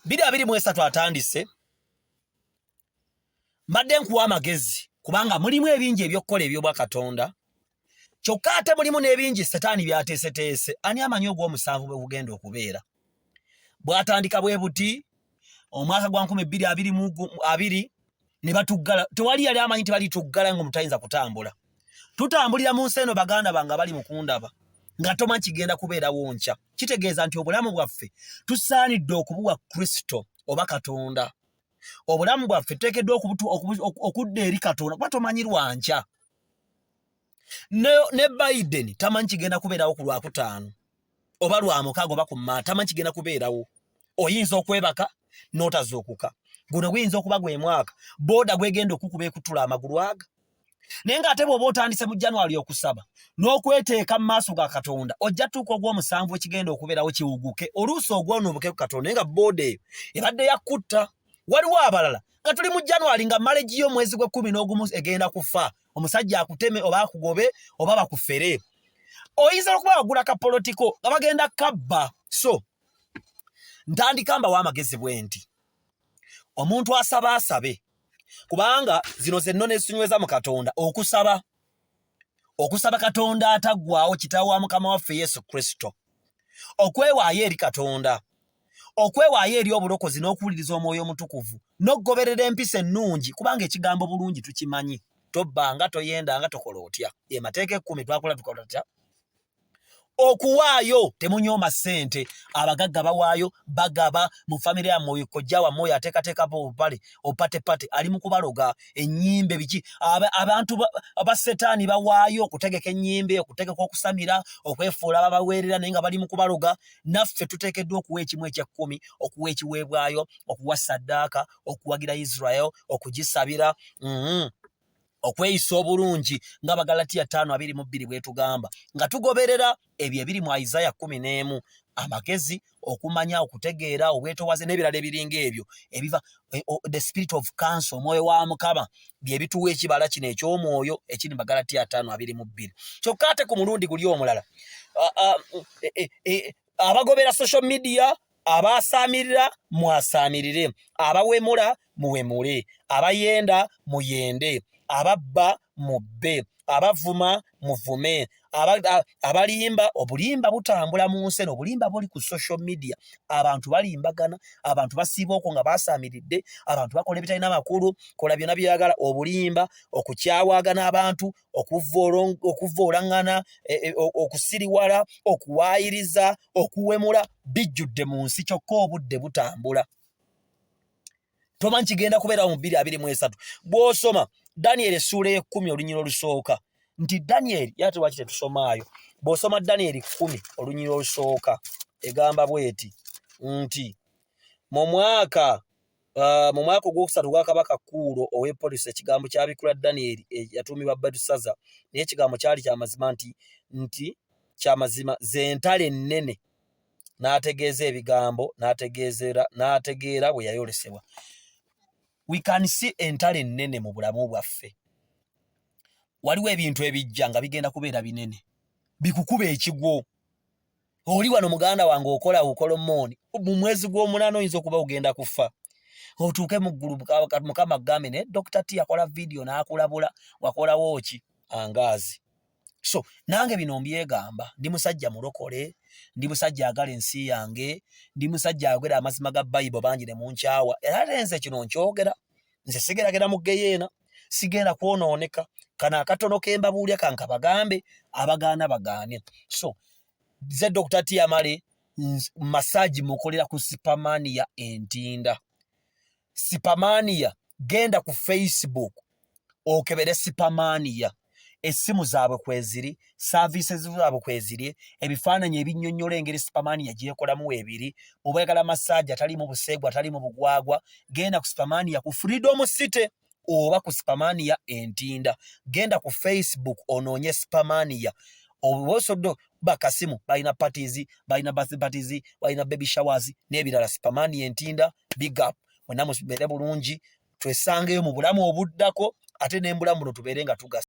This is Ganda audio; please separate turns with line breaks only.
biri abiri mu esatu atandise mbadde nkuwa amagezi kubanga mulimu ebingi ebyokukola ebyobwa katonda kyokka ate mulimu n'ebingi setaani byateeseteese ani amanyi ogw'omusanvu bwe gugenda okubeera bwatandika bwe buti omwaka gwa nkumi bbiri abiri mu abiri ne batuggala tewali yali amanyi nti balituggala nga omutayinza kutambula tutambulira mu nsi eno baganda bange abali mukundaba nga toma kigenda kubeerawo nkya kitegeeza nti obulamu bwaffe tusaanidde okubuwa kristo oba katonda obulamu bwaffe tuteekeddwa okudda eri katonda kuba tomanyi lwankya ne, ne biden tamanyi kigenda kubeerawo ku lwakutaano oba lwamukaaga oba kumaa tamanyi kigenda kubeerawo oyinza okwebaka n'otazuukuka guno guyinza okuba gwe mwaka booda gwegenda okukuba ekutula amagulu aga naye ng'ate bw'oba otandise mu january okusaba n'okweteeka mu maaso ga katonda ojja tuuka ogw'omusanvu ekigenda okubeerawo kiwuguke oluusi ogwonuubuke ku katonda naye nga booda eyo ebadde yakutta waliwo abalala nga tuli mu january nga maleji yo omwezi gw'ekkumi n'ogumu egenda kufa omusajja akuteme oba akugobe oba bakufere oyinza okuba wagula kapolotiko nga bagenda kabba so ntandika mbawo amagezi bwe nti omuntu asaba asabe kubanga zino zenno nesinyweza mu katonda okusaba okusaba katonda ataggwawo kitaawo wa mukama waffe yesu kristo okwewaayo eri katonda okwewaayo eri obulokozi n'okuwuliriza omwoyo omutukuvu n'okugoberera empisa ennungi kubanga ekigambo bulungi tukimanyi tobbanga toyendanga tokola otya emateeka ekkumi twakola tukola tutya okuwaayo temunyooma ssente abagagga bawaayo bagaba mu famire yammwe oyo kojja wammwe oyo ateekateekapo obupale opatepate ali mu kubaloga ennyimbe biki abantu ba setaani bawaayo okutegeka ennyimbe okutegeka okusamira okwefuula babaweerera naye nga bali mu kubaloga naffe tuteekeddwa okuwa ekimu ekyekkumi okuwa ekiweebwayo okuwa saddaaka okuwagira israel okugisabira mm-hmm. okweyisa obulungi nga bagalatiya ttaano abiri mu bbiri bwetugamba nga tugoberera ebyo ebiri mu isaya kumi n'emu amagezi okumanya okutegeera obwetowaze n'ebirala ebiringa ebyo ebiva eh, oh, the spirit of council omwoyo wa mukama byebituwa ekibala kino ekyomwoyo ekiri magalati ataano abiri mu bbiri kyokka ate ku mulundi guli omulala ah, ah, eh, eh, abagobera social media abaasaamirira mwasaamirire abawemula muwemule abayenda muyende ababba mubbe abavuma muvume abalimba obulimba butambula mu nsi eno obulimba buli ku social media abantu balimbagana abantu basiiba okwo nga basaamiridde abantu bakola ebitalina makulu kola byona byeyagala obulimba okukyawagana abantu okuvvoolaŋŋana e, e, okusiriwala okuwaayiriza okuwemula bijjudde mu nsi kyokka obudde butambula tomanyi kigenda kubeerawo mu bbiri abiri mu esatu bw'osoma daniel essuula ekumi olunyira olusooka nti daniel yate lwaki tetusomaayo bw'osoma daniel kumi olunyira olusooka egamba bweti nti mu mwaka uh, mu mwaka ogwokusatu gwa kabaka kuulo ow'epolisi ekigambo kyabikula daniel eh, yatuumibwa betusaza naye ekigambo kyali kyamazima nti nti kyamazima zentalo ennene n'ategeeza ebigambo n'ategeera bwe yayolesebwa we can see entalo ennene mu bulamu bwaffe waliwo ebintu ebijja nga bigenda kubeera binene bikukuba ekigwo oli wano muganda wange okola okola mooni mu mwezi gw'omunaana oyinza okuba ogenda kufa otuuke mu ggulu mukama gambe naye dokita ti yakola vidiyo n'akulabula wakolawo ki angaazi so nange bino mbyegamba ndi musajja mulokole ndi musajja agala ensi yange ndi musajja agera amazima ga bayibo bangi ne munkyawa era lenze kino nkyogera nze sigeragera mu geyeena sigenda kwonooneka kana akatono kembabuulya kanka bagambe abagaana bagaane so ze dr tiamale masaji mukolera ku sipamania entinda sipamaniya genda ku facebook okebere sipamaniya essimu zaabwe kweziri services zaabwe kweziri ebifaananyi ebinyonyola engeri sipamaniya gyekolamu ebiri obwagala massage atalimu buseegwa atalimu bugwagwa genda ku sipamaniya ku freedom city oba ku sipamaniya entinda genda ku facebook onoonye sipamaniya obwosoddo bakasimu balina parties balina birthday parties balina baby showers n'ebirala sipamaniya entinda big up mwenna mubere bulungi twesangeyo mu bulamu obuddako ate nembulamu buno tubere nga tugasa